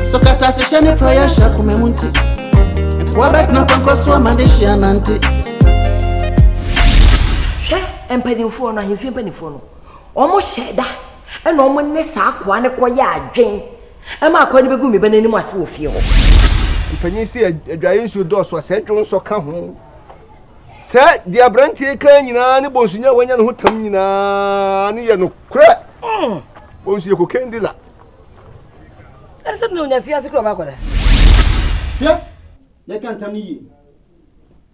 Nso kata se hyɛ ne prayɛ hyɛ akoma mu nti Nkoa bɛtena pɔnkɔ so ama ne hyia nante Hwɛ mpanimfoɔ no ahemfie mpanimfoɔ no wɔn hyɛ da ɛna wɔn ne saa akoa no kɔyɛ adwen ɛma akoa no bɛgu me ba n'anim ase wɔ fie hɔ mpanyin si adwaeɛ nsuo dɔɔso a sɛ dwon nsɔ ka ho sɛ deɛ aberanteɛ ka nyinaa ne bɔnsunya wanya ne ho tam nyinaa ne yɛ nokorɛ mm. bɔnsuɛ kokain dila ɛne sɛ dena onya fiase kura ɔba akɔda hwɛ yɛka ntam no yie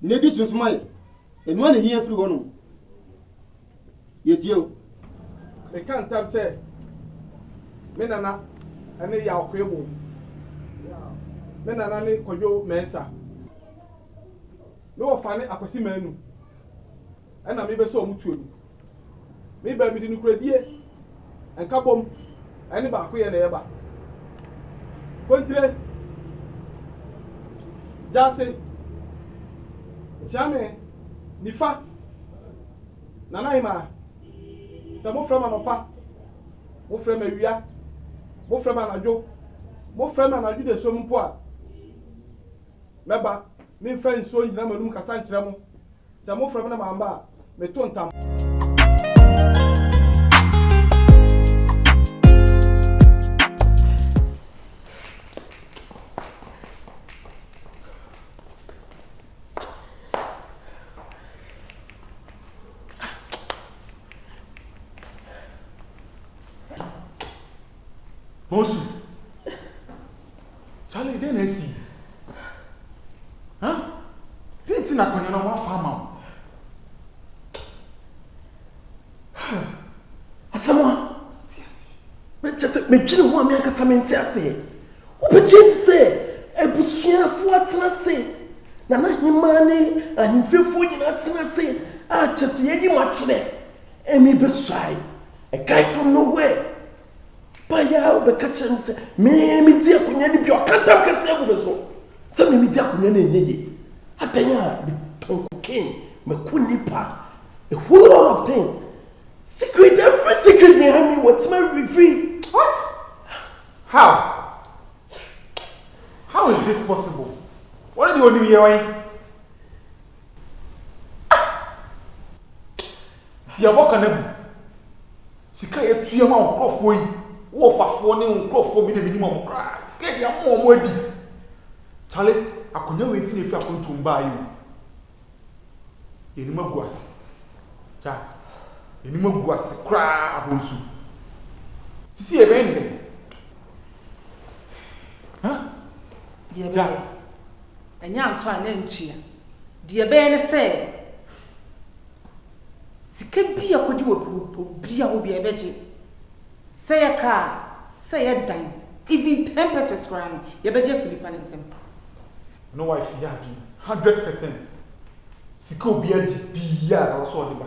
na ɛdi so nso ma yɛ ɛno a na hia firi hɔ no yɛtie o meka ntam sɛ me nana ne yaw koe wo me nana ne kɔdwo mɛnsa me wɔfa ne akwasi manu ɛna mebɛsɛ ɔmo tuo no Me ba, mede nokorɛdie, nkabom, ne baakoyɛ na ɛreba. Kontire, gyaase, nkyeame, nifa, nanahemaa, sɛ mofrɛ me anɔpa, mofrɛ me awia, mofrɛ me anadwo, mofrɛ me anadwo dasuom mpo a, mɛba, memfa nsuo ngyina mo anom nkasa nkyerɛ mo. Sɛ mofrɛ me na mamma a, meto ntam. Monsu. Charlie, dɛn na asi? Huh? Dɛn nti na akonnwa no wɔafa ama wo? Asɛm a kyɛ sɛ medwene ho a me ankasa mente aseɛ. Wobɛkyɛ nti sɛ abusuafoɔ atena ase na n'ahemaa ne ahemfiefoɔ nyinaa atena ase a kyɛ sɛ yɛyi makyerɛ ɛne bɛsuae. It came from nowhere. Baeɛ ara ɔbɛka kyerɛ me sɛ me medi akonnwa no bi a ɔka ntam kɛseɛ agu me so sɛ me medi akonnwa no ɛnyɛ yie. Adɛn a metɔn cocaine, mako nnipa, a whole lot of things. Secret, every secret behind me wɔtumi awi firi. What? How? How is this possible? Wɔn de wɔn nim yɛ wɔn. Nti yɛabɔ ka no agu. Sika a yɛatua ma wo nkurɔfoɔ yi, wo wɔfafoɔ ne wo nkurɔfoɔ, me deɛ mennim wɔn koraa. Sika a yɛde ama wɔn adi. Kyale, akonnwa wei nti na yɛfiri apontoom baeɛ o. Yɛanim agu ase. Gya. Yɛanim agu ase koraa abonsu. Sisi yɛbɛyɛ ne dɛn? Hã? Deɛ Gya. ɛbɛyɛ. Ɛnyɛ antɔ a na ntua. Deɛ ɛbɛyɛ ne sɛ, Sika bi a kodi wɔ obi a obi a yɛbɛgye sɛ yɛ car sɛ yɛ dan even ten pesos koraa no yɛbɛgye afi nipa ne nsam. Ɛno wife yɛ adwene hundred percent sika obi agye biaa ɛwɔ sɛ ɔde ba.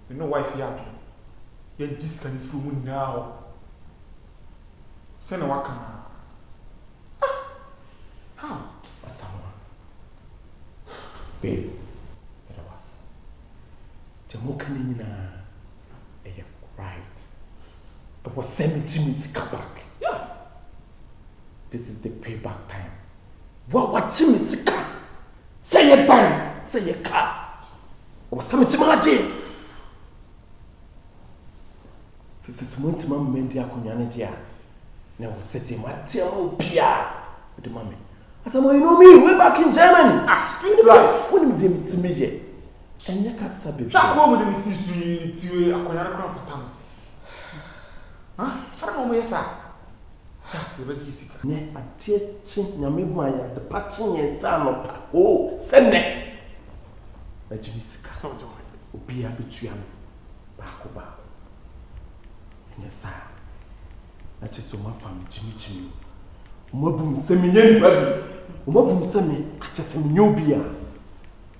Me ne wife yɛ adwene yɛngye sika no firi ɔmo nyinaa hɔ sɛnea waka no ara. Ah! How? Asamoah, Babe, meda wo ase. Deɛ moka no nyinaa ɛyɛ right. Ɛwɔ sɛ megye me sika back. Yeah! This is the pay back time. Wo a wagye me sika! Sɛ yɛ dan, sɛ yɛ kaa. Wɔ sɛ me kye maa gye. Sɛ sɛ sɛ mo ntima mma ndi akonnwa no gye a, na wɔ sɛ deɛ ma teɛ ma obia o de ma me. Asɛmɔ, you know me, way back in German. Ah, street life. Wọ́n ni mi deɛ mi ti mi yɛ. Ɛnyɛ kasa bebree. Hwɛ akɔn mu de ne si so yi, ne ti akonnwa no kora mfata no. Hã? Hwɛ na wɔn yɛ saa. Cha yɛbɛgye sika. Nɛ adeɛ kye nyame hu ayɛ adepa kye yɛn sɛ anɔpa oo sɛ nɛ mɛgye me sika sɛ ɔgye mayɛ obiaa bɛtua me baako baako ɛnyɛ saa na kyɛ sɛ ɔmo afa me gyimi gyimi o ɔmo abu me sɛ menyɛ nipa bi ɔmo abu me sɛ me akyɛ sɛ menyɛ obiaa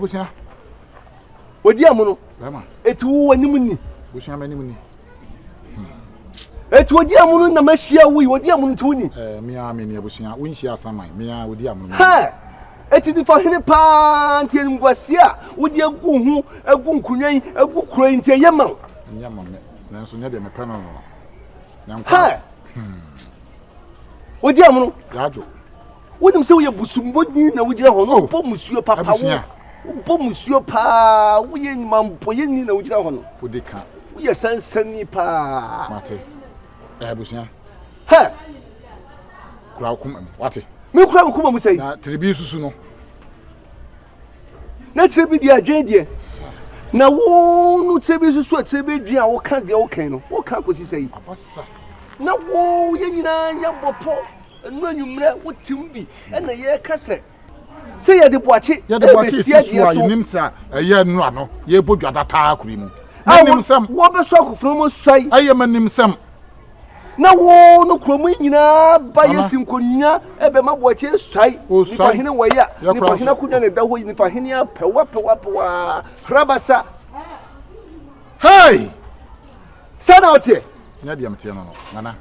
abusua odi amu no eti wo w'anim ni abusua m'anim ni hmm. eti odi amu no na ma hyia wo yi odi amu no ti wo ni. ɛɛ eh, mmea mi ni abusua wo nhyia asaman mmea odi amu no. hɛ eti nifa hene paa nti nkwasi a wodi egu ho egu nkunya yi egu kuro yi nti ɛyɛ ma wo. ɛnyɛ ma mɛ. nanso nyɛ deɛ mepɛ no no na nkwa wodi amono yɛadwo wonim sɛ woyɛ busummɔdini na wogyina hɔ no wobɔ musuo papa wo wobɔ musuo paa woyɛ nyumampɔyɛni na wogyina hɔ no wodi ka woyɛ sansani paa mate abusua hɛ kura wo koma mu wate mekura wo koma mu sɛ na tiribi susu no na kyerɛ bi deɛ adwene deɛ na wo no kyerɛ bi nso so akyerɛ bi adwene a woka deɛ woka no woka akɔsi sɛ yi na wo yɛ nyinaa yɛbɔ pɔ ɛno anwummerɛ wotem bi ɛna yɛka sɛ sɛ yɛde boakye ɛbɛsi adeɛ so yɛnim sɛ ɛyɛ nnora no yɛbɔ dwada taa kuri mu wɔbɛsɔ akofena mu suae ɛyɛ ma nim sɛm Na wo no kuro mu nyinaa ba yɛ si nkonnwa bɛma boakye suae nifa hene wɔ yɛ a nifa hene akonnwa na ɛda hɔ yi nifa hene apɛwa pɛwa pɛwa hrabasa hei sɛ na ɔteɛ nyɛ deɛ mteɛ no no nana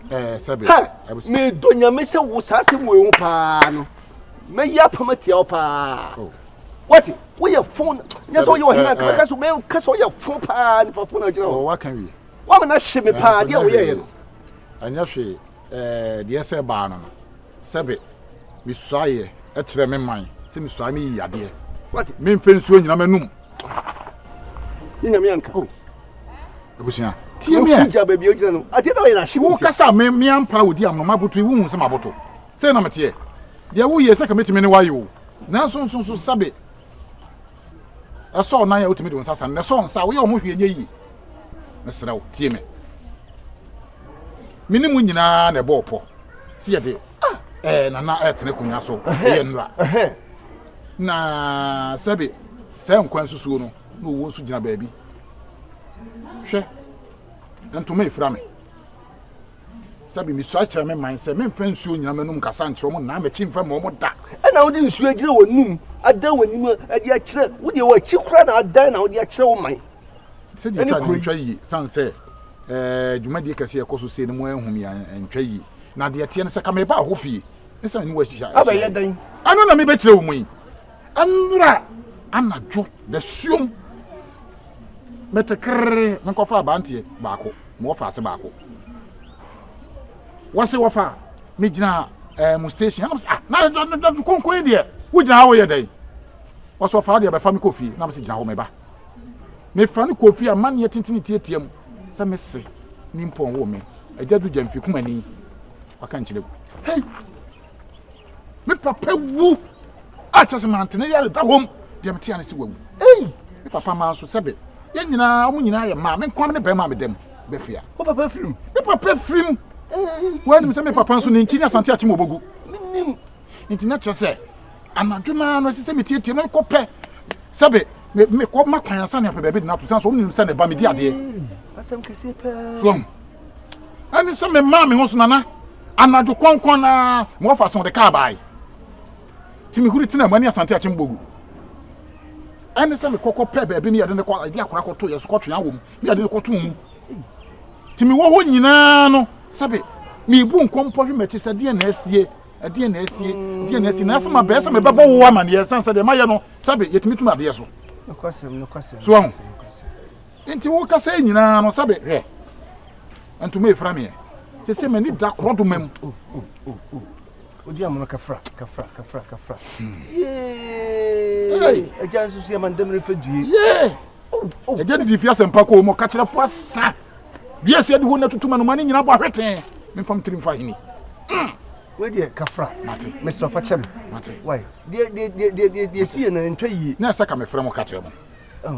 ɛɛ sɛbe medɔ nyame sɛ wo saa sɛ mu ehu paa no mɛyi apam atia wo paa oh. wɔte woyɛ fon nyɛ sɛ woyɛ ɔhene ankabɛka so bɛka sɛ woyɛ fo paa nipa fo na agyina hɔ oh, Wama no ahye me paa deɛ woyɛeɛ no. Ɛnyɛ hwee ɛɛ deɛ sɛ baa no no sɛbe mesuaeɛ ɛkyerɛ me man sɛ mesuaeɛ meyi yadeɛ memfɛ nsuo nyina m'anum. Ne nyame anka. Oh. Abusua tie me ɛ. Wogya baabi a wogyina no adeɛ na ɔyɛ no ahye wo. Wokasa me me ampa wodi amono maboto wohu sɛ maboto sɛ na meteɛ deɛ woyɛ sɛ ka mɛtumi ne woayɛ o nanso nso nso sɛbe Ɛsɔ wo nan a, wotumi de wo nsa sa no, na ɛsɔ wo nsa a, woyɛ wo ho hwee nyɛ yie. Mesrɛ wo, tie me. Me ne mo nyinaa na ɛbɔɔ pɔ sɛ yɛde ɛɛ nana ɛtena akonnwa so ɛyɛ nnora. Na sɛbe saa nkwa nsusuo no na owuo nso gyina baabi. Hwɛ, ntoma efira me. Sɛbe misua kyerɛ me man sɛ memfa nsuo nnyina m'anom nkasa nkyerɛ wɔn anaa mɛkyi mfa mma wɔn da. Ɛna wode nsuo agyina wɔn anom, adan wɔn anim de akyerɛ, wo deɛ wɔakyi koraa na adan na wode akyerɛ wo man. Sɛdeɛ ɛtwa no ntwa yie, sane sɛ ɛɛ dwumadie kɛseɛ ɛkɔ so sei no mo anhu me antwa yie. Na deɛ ɛteɛ no sɛ ka mebaa hɔ fie ne sɛ me ne wo ahyia. Abɛyɛ dɛn? Ɛno na mebɛkyerɛ wo mu yi. Ɛnora anadwo dasuom mete kerree menkɔfa abanteɛ baako ma wɔfa ase baako wɔse wɔfa megyina eh, mu station ɛnam sɛ ah na dɔdɔ konko yi deɛ wogyina hɔ yɛ dɛn wɔse wɔfa wo deɛ bɛfa me kɔ fie nam sɛ gyina hɔ meba mefa no kɔ fie amanneɛ tentene tiatia mu sɛ mese ne mpɔn wo me agya du gya mfi kumani waka nkyerɛ gu hei me papa wu a kyerɛ sɛ mante ne yare da hɔ mu deɛ metea ne sɛ wawu ei me papa maa nso sɛbe yɛn nyinaa ɔmo nyinaa yɛ maa me nkoam ne bɛrima a meda mu bɛfiri a wo papa firim me papa firim woanim sɛ me papa nso ne nkyi ne asante akyem ɔbɔgu menim nti na kyerɛ sɛ anadwo no ara no ɛsɛ sɛ metietie no kɔpɛ sɛbe mekɔ ma kwan asa ne apɛ baabi de no ato sane so ɔmnim sɛ ne ba medi adeɛ so ɛne sɛ memaa me ho so nana Anadwo kɔnkɔn no ara ma wɔfa so de kaa bae. Nti mehuri tenaa mu. Ɛne Asante Akyembogu. Ɛne sɛ mekɔ kɔpɛ baabi ne yɛde no kɔ de akora kɔto yɛ so kɔtwe awɔ mu ne yɛde no kɔto mu. Nti mewɔ hɔ nyinaa no sɛbe mebu nkɔmpɔ hwe m'akyi sɛ deɛ na asie ɛdeɛ na asie deɛ na asie na asɛm abɛɛ sɛ mebɛbɔ wo amanneɛ ɛsiane sɛ deɛ mayɛ no sɛbe yɛtumi tum adeɛ so so ahu Nti wo kasa yi nyinaa no sɛbe hwɛ ntoma efra meɛ sese m'ani da korɔdoma mu. Oh, oh, oh, oh. Odi amono kafra kafra kafra kafra. Hmm. Yee. Agya nso si amandam refa due. Yee. Agya didi fi asɛmpa kɔ mu kakyerɛfo asa. Dua si adi hɔ na tutu manoma ne nyinaa bɔ ahwetee. Memfam tirim fa ahini. Mm. Wei deɛ kafra. Mate. Mesrɛ fa kyɛ me. Mate. Wai. Deɛ deɛ deɛ deɛ deɛ si yɛ na ntwa yie. Na ɛsɛ ka mefrɛ mo kakyerɛ mo.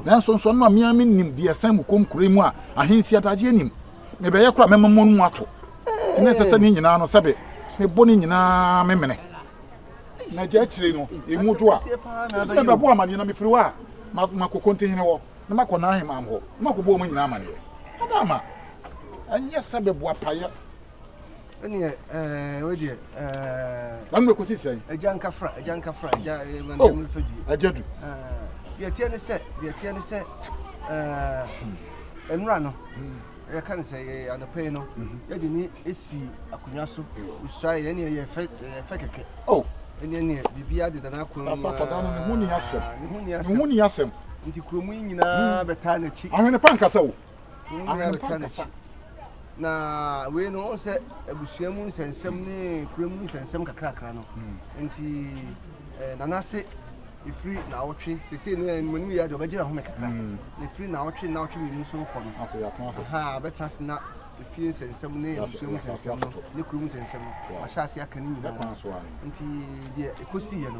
Nanso nsɔano a me ara minnim de asan mu kɔ nkuraa yi mu a ahensi adagyeɛ nnim. Mebɛyɛ koraa a mɛma mo mu atɔ. Enti na ɛsɛ sɛ ne nyinaa no, sɛbe mebɔ ne nyinaa memene. Na gya akyire no, emu dwo a, ɛfiri sɛ mebɛbɔ amanneɛ, na mefiri hɔ a, makɔ kontihene hɔ, na makɔ n'ahemman hɔ, na makɔbɔ wɔn nyinaa amanneɛ. Adaama, ɛnyɛ sɛ meboapaeɛ. ɛneɛ ɛɛ wei deɛ ɛɛ na mmerɛ kɔsi sɛn agya nkafra agya nkafra agya ɛmɛndɛm fa dwie agya du deɛ teɛ ne sɛ deɛ teɛ ne sɛ ɛɛ nnura no yɛka no sɛ yɛ anɔpa yi no yɛde ne ɛsi akonnwa so ɔsua yɛ ɛneɛ yɛfɛ yɛfɛ kɛkɛ oh ɛneɛ neɛ biribiara deda no akwan mu aa ne ho ni asɛm ne ho ni asɛm nti kurom yi nyinaa bɛtaa n'akyi ahwene pa nkasa o ahwɛ no kasa. Na wei no wɔn sɛ abusua mu nsɛnsɛm ne kura mu nsɛnsɛm kakrakra no hmm. nti eh, nanase efiri na awɔtwe sese no ɛnu ɛnu yɛ adi ɔbɛgyina home kakra hmm. na efiri na awɔtwe na awɔtwe mmienu nso kɔ no ha abɛtena se na efie nsɛnsɛm ne abusua mu nsɛnsɛm no ne kuro mu nsɛnsɛm no wahyɛ ase aka ne nyinaa nti deɛ ekosi yɛ no.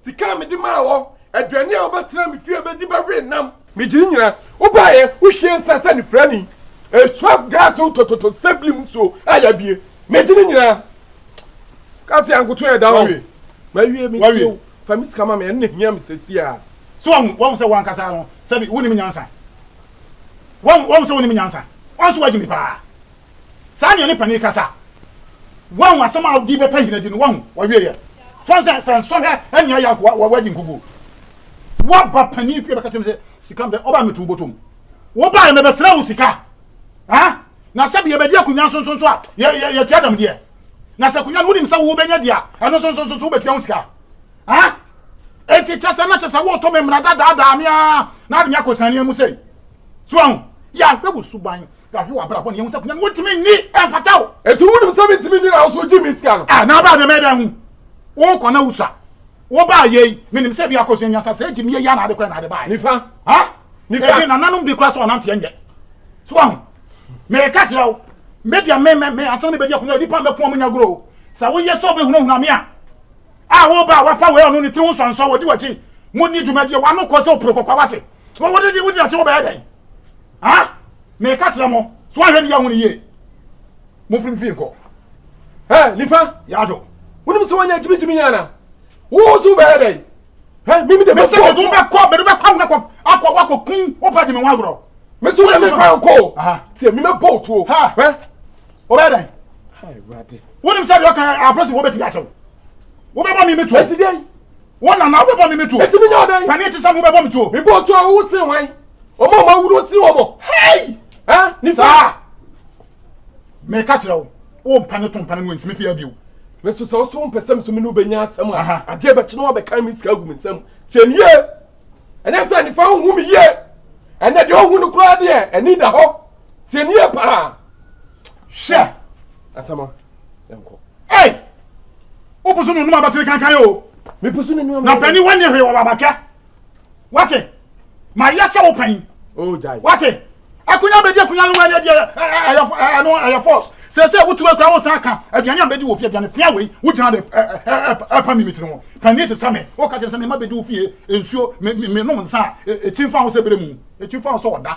Sika a mede maa wɔ, aduane a wobɛtena me fie bɛdi bɛwe nnam. Megye ne nyinaa. Wobaeɛ, wohwiee nsã sɛ anifirani, ɛsraf gas wo tototo sɛ blim nsuo a yɛabue. Megye ne nyinaa. Ka sɛ ankoto yɛ da hɔ. Wawie. Mawie, metie wo. Fa me sika ma me, ɛno na ɛhia me seesei ara. So woahu, woahu sɛ wo ankasa no, sɛbe, wonnim nyansa? Woahu, woahu sɛ wonnim nyansa? Ɔno nso wagye me paa. Saa nea ne panin kasa. Wahu asɛm a ɔde bɛpa hene de no, wahu, ɔwieeɛ. Fa sɛ, sɛ nsɔhwɛ ɛne ayɛ akoa, wa, wadi nkugu. Waba panin fie bɛka kyerɛ me sɛ, sika mdɛ, ɔbaa mɛtu wo bɔtɔm. Wobaeɛ mɛbɛsrɛ wo sika. Ha? Na sɛbi yɛbɛdi akonnwa nso nso nso a, yɛ, yɛ, yɛtua dɛm deɛ. Na sɛ akonnwa no wonim sɛ wobɛnya di a, ɛno nso nso nso nso wobɛtua ho sika. Ha? Enti kyɛ sɛ na kyɛ sɛ woreto me mmara da daadaa me ara na ade me akɔ sania mu sei. So wahu? Yɛ ahwɛ wo suban. yɛahwɛ w'abrabɔ ne yɛhu sɛ akonnwa no wontumi nni ɛmfata wo ɛti wonim sɛ mentumi nni na wo so wogye me sika no ah, na wobaa dɛmɛ dɛn ho wokɔ na wosua wobaa yei menim sɛ bi akɔsua nya sa sɛ gyim yɛ yɛ na ade kɔ na ade baɛ nifa ha nifa ebi nananom bi kora sɛ ɔnanteɛ nyɛ so ahu meka kyerɛ wo media me me me asɛm no bɛdi akonnwa nipa mɛko ɔmo nya goro sɛ woyɛ sɛ wobɛhunahuna me a a woba a wafa wei ɔno ne tiri ho nsɔnsɔ wɔdi wakyi mo ni dwumadie wano kɔ sɛ oporo kɔkɔ wate wɔwɔde de wodi akyi wobɛyɛ dɛn Ha! Meka kyerɛ mo, so ahwɛ ne yɛahu no yie. Momfiri mfie nkɔ. Hɛ, nifa! Yɛadwo. Wonim sɛ wɔnyɛ gyimigyimi yɛn ana? Wo so wobɛyɛ dɛn? Hɛ, mimi de bɛkɔ. Mesɛ mede wobɛkɔ, mede wobɛkɔ mu akɔ, akɔ, wakɔ kun wopɛ de me ho agorɔ. Me so wode me fa nkɔ. Tiɛ, mi mɛbɔ wo tuo. Hɛ. Wobɛyɛ dɛn? Wonim sɛ deɛ ɔka abrɛsi wɔbɛtumi akyɛw. Wobɛbɔ me me tuo. Ɛti dɛn? Wɔn na na wobɛbɔ me me tuo. Enti menyɛ ɔdɛn? Paneɛ te sɛ me wobɛbɔ me tuo. Mebɔ otuo a wowo sen hwan? Wɔn a wɔawu no sen wɔn. Hei! Ɛ? Nifa? Saa! Meka kyerɛ wo, wompa ne to mpa ne no ansi me fie ha bio. Me nso sɛ wo so wompɛ sɛ me so me ne wo bɛnya asɛm a, adeɛ bɛkye na woabɛkan me sika agu me nsam. Tie me yie! Ɛnyɛ sɛ Nifa nhu me yie. Ɛnna deɛ ɔhu no koraa deɛ, ani da hɔ. Tie ni yɛ paa. Hwɛ. Asama. Ɛnkɔ. Ɛy! O pusu nunu ma batiri kankan yɛ o. Mi pusu nunu ma. Na pɛni wani hwɛ wɔ babatwa. Wate. Ma yɛ sɛ o pɛn. O jai. Wate. Akunya bɛ di akunya ni wani ɛdi ɛyɛ ɛno ɛyɛ force. Sɛ sɛ wotu akura wo san ka aduane a bɛ di wɔ fie aduane fia wei wo gyina de ɛpa mi mi tiri ho. Pɛni ti sɛ me. O ka kyerɛ sɛ me ma bɛ di wo fie nsuo me me nom nsa. Ɛkyi nfa ho sɛ bere mu. Ɛkyi nfa ho sɛ ɔda.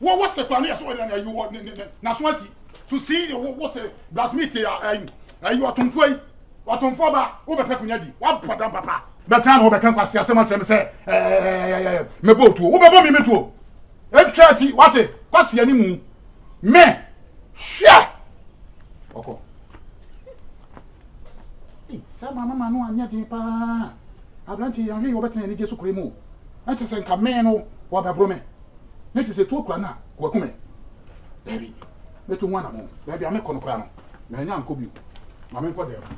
Wo wo se koraa ne yɛ so ɔyɛ ayi wɔ ne ne n'aso asi so sii ne wo wo se blasmit a ayi ayi ɔtomfoɔ yi ɔtomfoɔ ba wobɛpɛ konya di wabɔ dam papa bɛtena na wobɛka nkwasi asɛm akyerɛ me sɛ ɛɛ mɛbɔ otuo wobɛbɔ me metuo ɛtwa ti wate kwasi ani mu me hwɛ ɔkɔ sɛ maame ma no anyɛ den paa aberante yɛn ahwɛ yi wɔbɛtena anigye so kure mu ɛkyɛ sɛ nka me no wɔbɛboro me Me te sɛ tuo kura no a wɔaku me. Daabi, mɛtu ho anammɔn. Baabi a mekɔ no koraa no, mannya ankɔ bio. Ma menkɔ dan mu.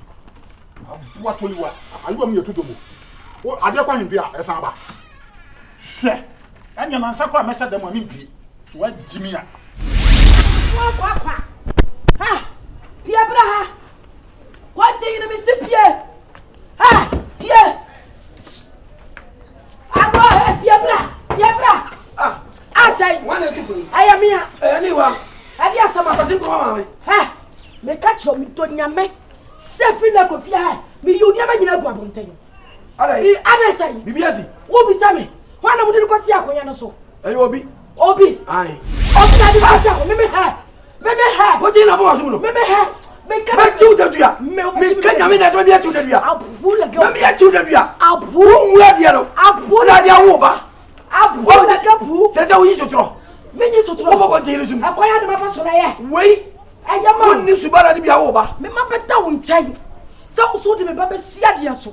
Aboa Toliwa, Ayowa mu yɛ to dwom o. Wo adeɛ kɔ ahemfie a, ɛsan ba. Hwɛ, ɛnneɛ nansa koraa mɛhyɛ dan mu a mempue. So woagye me a? Kwakwakwa! Ha! Pie bra ha! Kwanteyene mese pie! Ha! Pie! Abɔ ɛ fie bra fie bra. Ah. Asɛn. Wɔn na etu kunu. Ɛyɛ mi a. Ɛyɛ ni wa. Ɛdi asɛm a. Kwasi nkɔmɔ maame. Hɛ mi ka kyerɛ mi dɔ nyame sɛ firi na kɔ fie hɛ mi yi nneɛma nyinaa gu abɔnten. Ada yi. Ada sɛn. Bibi asi. Wo bisa mi. Wɔn na mo de kɔ si akonnwa no so. Ɛyɛ obi. Obi. Ayi. Obi na di ba sa ho. Mimi ha. Mimi ha. Ko ti na bo wa so no. Mimi ha. Me ka. Me ti u da dua. Me ka nya me na so me ti u da dua. Abu la ga. Me ti u da dua. Abu. Mu ya dia no. Abu la dia wo ba. Abu la ga bu. Se se u yi so tro. Me yi so tro. Ko ko ti ni su. Akoya de ma fa so na ye. Wei. Aya ma. Ni su ba na di bia wo ba. Me ma beta wo nkyɛn. Sɛ wo so de me ba bɛsi adeɛ so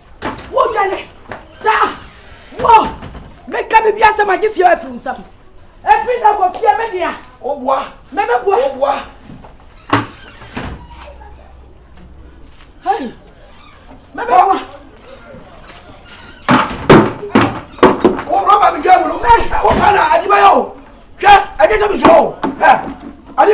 wodwane saa wɔ meka biribi asɛm agye fie afiri nsɛm ɛfiri na kɔ fie me dea woboa mɛbɛboa woboa hei mɛbɛboa rɔba mi dwa mu no wopɛ na agyebɛyɛ o hwɛ ɛnyɛ sɛ mesuo o ade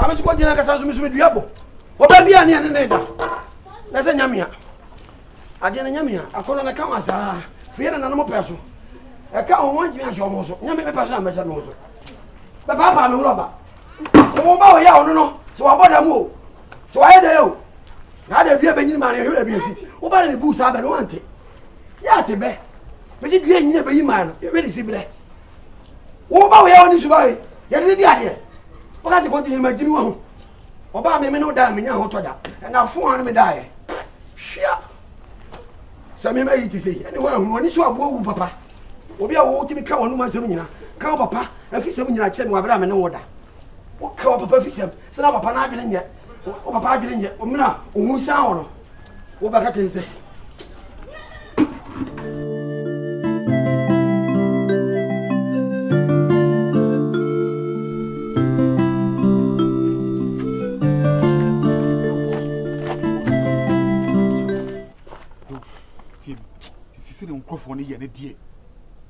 ame so kɔgyina kasa nso meso medua bɔ wɔba bia ne ɛne ne da na sɛ nyamea adeɛ no nyamea akɔnɔ no ka wa saa fie na nanom pɛ so ɛka ho ho ntumi ahyɛ ɔmo so nyame mepa so na mɛhyɛ no so bɛpaapaa me ho ɔba wo ba ɔyɛ ɔno no sɛ wabɔ da mu o sɛ wayɛ dɛ o na ada dua bɛnyini ma ne hwɛ baabi asi wo ba ne mebu saa bɛ no wante yɛ ate bɛ bɛsi dua nyina bɛyi maa no yɛbɛde si berɛ woba woyɛ wo ne suba yi yɛde ne di adeɛ woka sɛ kɔnti yɛma gyimi wɔ ho ɔbaa meme ne wo daa menya ho tɔ da ɛna fo a no medaeɛ hwea sɛ mema yi te sɛ ɛne woahunu ɔne so aboa wu papa obi a wotumi ka wɔnom asɛm nyina ka wo papa afi sɛm nyina kyerɛ no wabrɛ a mene wo da woka wɔ papa fisɛm sɛ na papa no adwene nyɛ wo papa adwene nyɛ ɔmena a ɔhu san wɔ no wobɛka kyɛn sɛ nkurɔfoɔ no yɛ ne deɛ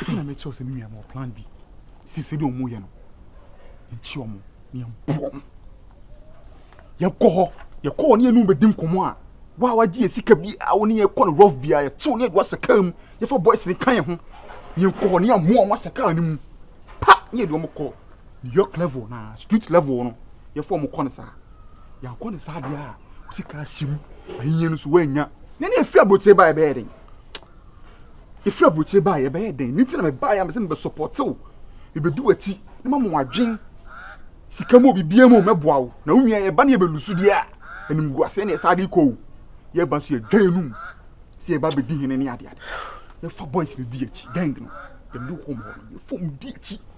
Eti na mekyerɛw sɛ me nua ma plan bi. Si sɛ deɛ wɔyɛ no. Nkyi wɔn na yɛmpo wɔn. Yɛkɔ hɔ, yɛkɔ hɔ ne yɛne bɛdi nkɔmmɔ a wa wagye yɛ sika bi a wɔne yɛkɔ no rough biara yɛtew ne yɛde wasɛ kaa mu yɛfa boys ne ka yɛn ho ne yɛnkɔ hɔ ne yɛamu wɔn asɛ kaa no mu pa ne yɛde wɔn kɔ New York level na street level no yɛfa wɔn kɔ no saa yɛankɔ no saa deɛ a sika ahyɛ mu ahinyɛ no so wɔanya na ne ɛfiri aburokyire ba ɛbɛyɛ den Efiri aburokyire baa yɛ bɛyɛ dɛn? Nti na me baa yɛ amesɛ me bɛ support wo. Me bɛ di w'akyi. Ne ma mo wadwen. Sika mu obi bia mu mɛ boa wo. Na wo nua yɛ ba ne yɛ bɛ lusu deɛ a. Anim gu aseɛ ne yɛ saa de kɔ o. Yɛ ba nso yɛ dwan anum. Se yɛ ba bɛ di hene ne ade ade. Yɛ fa boys no di akyi. Gang no. Yɛ ne home hɔ no. Yɛ fom di akyi.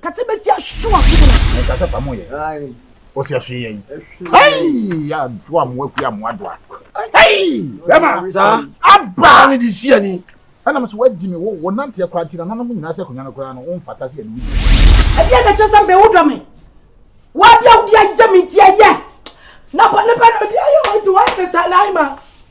Kase besi ahwe wako mu na. Meka sɛ pamo yɛ. Osi ahwe yɛ yi. Hey! Ya to amoa kuya amoa doa. Hey! Bema. Sa. Aba. Ani di si ani. Ɛna mo so wagyi me wo wo nante akora nti na nanom nyinaa sɛ akonnwa no koraa no wo mfata sɛ yɛde wo di. Ɛdeɛ na ɛkyɛ sɛ mbe wo dɔ me wadeɛ wodi ayi sɛ me nti ɛyɛ na bɔ ne pɛ na odi ayɛ wɔn nti wɔayɛ me saa na ayɛ ma.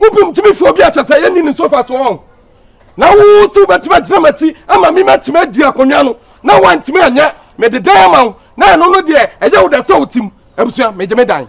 Wobom gyimi fi obi a kyɛ sɛ yɛnni ne so fa so wɔn. Na wo so wobɛtumi agyina m'akyi ama me matumi adi akonnwa no na woantumi anyɛ mede dan ama wo na ɛno no deɛ ɛyɛ wo dɛ sɛ wotim abusua megye me dan.